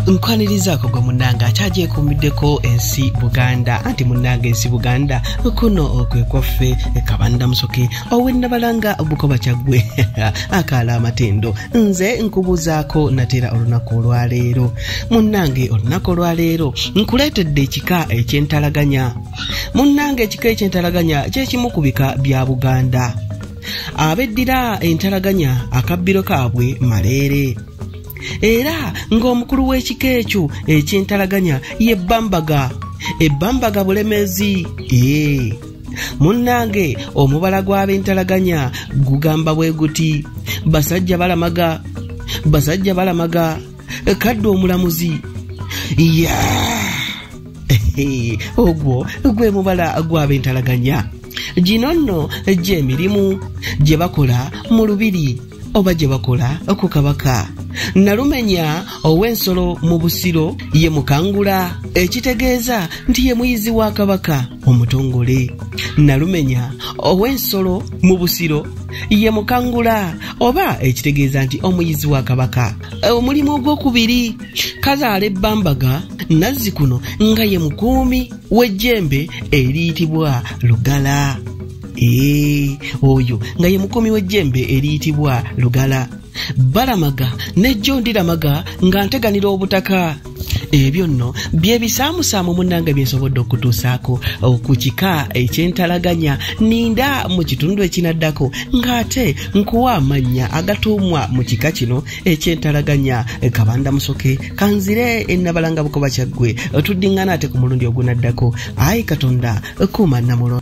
nkwanirizaako gwe munnange akyagyekuumiddeko ensi buganda anti munnange ensi buganda kuno kwe kwaffe kabanda musoke owennabalanga bukoba kyaggwe akaala amatendo nze nkubuuzaako natera olunaku olwaleero munnange olunaku olwaleero nkuleetedde ekika ekyentalaganya munnange ekika ekyentalaganya kyekimu ku bika bya buganda abeddira entalaganya akabbiro kaabwe maleere era ng'omukulu w'ekika ekyo ekintalaganya ye bambaga ebbambaga bulemeezi ee munnange omubala gw'ab'entalaganya gugamba bwe guti basajja balamaga basajja balamaga kadde omulamuzi ya ogwo gwe mubala gw'ab'entalaganya gino nno gy'emirimu gye bakola mu lubiri oba gye bakola ku kabaka nalumenya ow'ensolo mu busiro ye mukangula ekitegeeza nti ye muyizi wa kabaka omutongole nalumenya ow'ensolo mu busiro ye mukangula oba ekitegeeza nti omuyizi wa kabaka omulimu ogw'okubiri kazaala ebbambaga nazzikuno nga ye mukuumi w'ejjembe eriyitibwa lugala ee oyo nga ye mukuumi w'ejjembe eriyitibwa lugala balamaga nejjo ndiramaga nga nteganira obutaka ebyo nno byebisaamusaamu munange byensobodde okutuusaako ku kika ekyentalaganya ninda mu kitundu ekinaddako ng'ate nkuwa amannya agatuumwa mu kika kino ekyentalaganya eh, kabanda musoke kanzire enabalanga eh, bukoba kyaggwe eh, tuddingana ate ku mulundi ogunaddako ayi katonda kuuma namulo